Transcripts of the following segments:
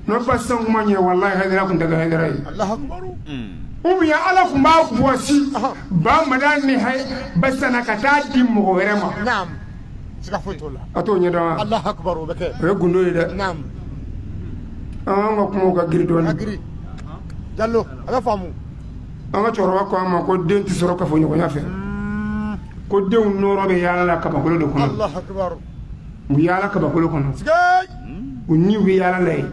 n'o basan kun ma ɲɛ walahi hayidara kun tɛ kɛ hayidara ye ou bien ala kun b'a bɔsi ba madan ni ayi basan na ka taa di mɔgɔ wɛrɛ ma naam siga foyi t'o la a t'o ɲɛdɔn wa alahu akbar o bɛ kɛ o ye gundo ye dɛ naam nka kumaw ka giri dɔɔni a ka giri jallo a bɛ faamu an ka cɛkɔrɔba ko an ma ko den tɛ sɔrɔ kafoɲɔgɔnya fɛ ko denw nɔɔrɔ bɛ yaala la kabakolo de kɔnɔ alahu akbar u yaala kabakolo kɔnɔ u ni bɛ yaala la yen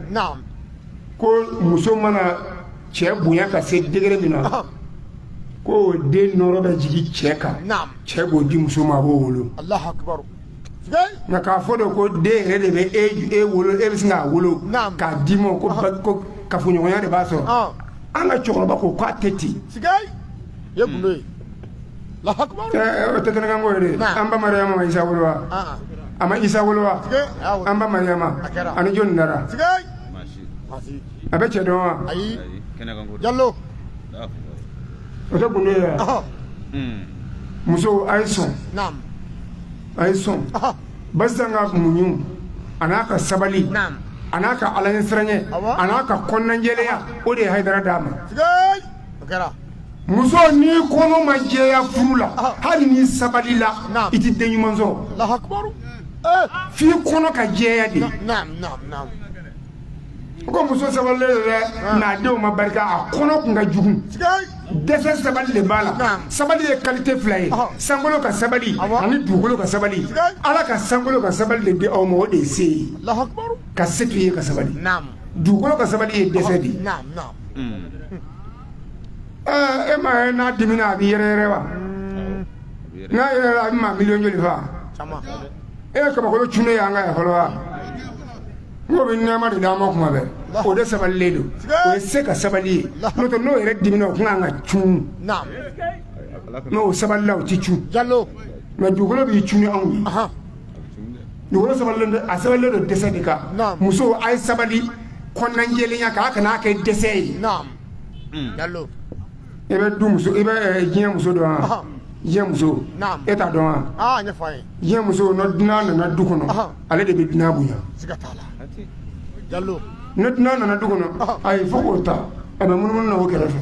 ko muso mana cɛ bonya ka se degere min na ko den nɔɔrɔ bɛ jigin cɛ kan cɛ b'o di muso ma a b'o wolo nka k'a fɔ de ko den yɛrɛ de bɛ e, e wolo e bɛ sin k'a wolo k'a d'i ma ko ko kafoɲɔgɔnya de b'a sɔrɔ an ka cɛkɔrɔba ko k'a tɛ ten tɛ tɛkanko an ba mariyama ma isa wolo wa a ma isa wolo wa an ba mariyama ani jɔn dara a bɛ cɛ dɔn wa jalo o tɛ gundo ye muso a ye sɔn a ye sɔn basan ka muɲu a n'a ka sabali a n'a ka ala ɲɛsiran ye a n'a ka kɔnɔnajɛlenya o de ye hayidara d'a ma muso ni kɔnɔ ma jɛya furu la ah. hali ni sabali la i tɛ den ɲuman sɔrɔ eh. f'i kɔnɔ ka jɛya de u ko muso sabalilen don dɛ ah. n'a denw ma barika a kɔnɔ kun ka jugu dɛsɛ sabali de b'a la sabali ye kalite fila ye ah. sankolo ka sabali ani dugukolo ka sabali ala ka sankolo ka sabali de di aw ma o de ye se ye ka se to i ye ka sabali dugukolo ka sabali ye dɛsɛ de ye e m'a ye n'a dimina a b'i yɛrɛyɛrɛ wa n'a yɛrɛyɛrɛla a bɛ maa miliyɔn joli fa e ye kabakolo cunnen y'an kan yan fɔlɔ wa nk'o bɛ nɛɛma de d'an ma kuma bɛɛ o de sabalilen don o ye se ka sabali ye n'o tɛ n'o yɛrɛ dimina o tun kan ka cun mɛ o sabalila o tɛ cun mɛ dugukolo b'i cun anw ye Dugukolo sabalilen a sabalilen don dɛsɛ de kan muso a ye sabali kɔnɔnajɛlenya kan a kana n'a kɛ dɛsɛ ye i bɛ du muso i bɛ diɲɛ muso dɔn wa diɲɛ muso e t'a dɔn wa diɲɛ muso ni dunan nana du kɔnɔ ale de bɛ dunan bonya ni dunan nana du kɔnɔ a ye fɔ k'o ta a bɛ munumunu na o kɛrɛfɛ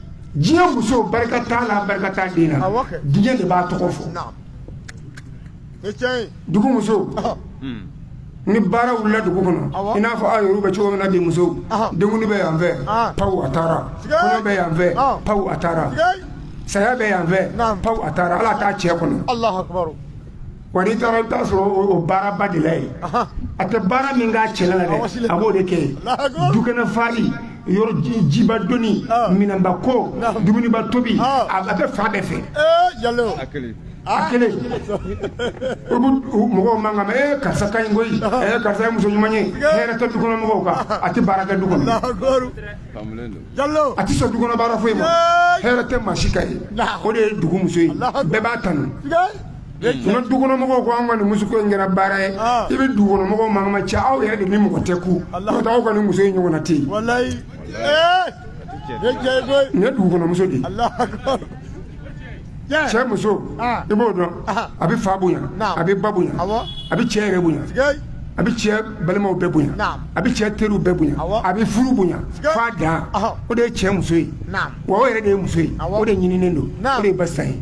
diɲɛ muso barika t'a la barika t'a den na diɲɛ de b'a tɔgɔ fɔ dugu muso ni baara wulila dugu kɔnɔ i n'a fɔ aw yɛrɛ bɛ cogo min na bi musow denkundi bɛ yan fɛ paw a taara kɔɲɔ bɛ yan fɛ paw a taara saya bɛ yan fɛ paw a taara ala t'a cɛ kɔnɔ Wa n'i taara i bɛ t'a sɔrɔ o o baara ba de la yen, anhan, a tɛ baara min k'a cɛla la dɛ, a b'o de kɛ yen, Alahu akibaru, dukɛnɛ furali, yɔrɔ ji jiba donni, ɔn, minɛnba ko, naamu, dumuniba tobi, ɔn, a bɛ fan bɛɛ fɛ, ee Jalo, a kelen, a kelen, i bɛ mɔgɔw mankan mɛn, ee karisa ka ɲi koyi, ee karisa ye muso ɲuman ye, hɛrɛ tɛ du kɔnɔ mɔgɔw kan, a tɛ baara kɛ du kɔnɔ, Alahu akibaru, kamulen don, Jalo, a tɛ sɔn du kɔnɔ baara foyi ma, Ee. hɛrɛ tɛ maa si kan yen, Naamu. o de ye dugu muso ye, Alahu akibaru. bɛɛ b'a kanu. Sika Tanu ni dukɔnɔmɔgɔw ko an ka nin muso in kɛra baara ye i bɛ dukɔnɔmɔgɔw mankan mɛn cɛ aw yɛrɛ de ni mɔgɔ tɛ kun n'o t'aw ka nin muso in ɲɔgɔn tɛ yen ye dugukɔnɔmuso de cɛ muso i b'o dɔn a bɛ fa bonya a bɛ ba bonya a bɛ cɛ yɛrɛ bonya a bɛ cɛ balimaw bɛɛ bonya a bɛ cɛ teriw bɛɛ bonya a bɛ furu bonya fa dan o de ye cɛ muso ye wa o yɛrɛ de ye muso ye o de ɲininen don o de ye muso ye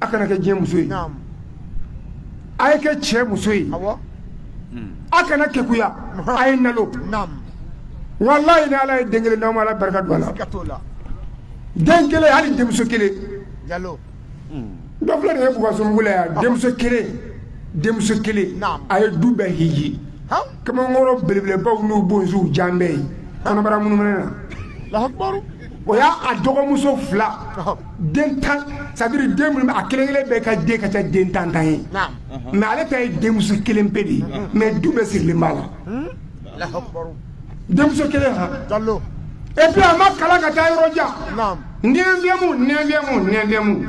a kana kɛ diɲɛ muso ye a ye kɛ cɛ muso ye a kana kekuya a ye nalo walayi ni ala ye den kelen d'aw ma ala barika don a la den kelen hali denmuso kelen dɔ filɛ nin ye bukasugu la yan denmuso kelen denmuso kelen a ye du bɛɛ hiji kamalenkɔrɔ belebelebaw n'u bonsi jan bɛ yen kɔnɔbara munumunu na o y'a a dɔgɔmuso fila den tan c'est-à-dire den minnu a kelen kelen bɛɛ ka den ka ca den tan tan ye mais ale ta ye denmuso kelen pe de ye mais du bɛɛ sirilen b'a la denmuso kelen ha et puis a ma kalan ka taa yɔrɔ jan neuvième neuvième neuvième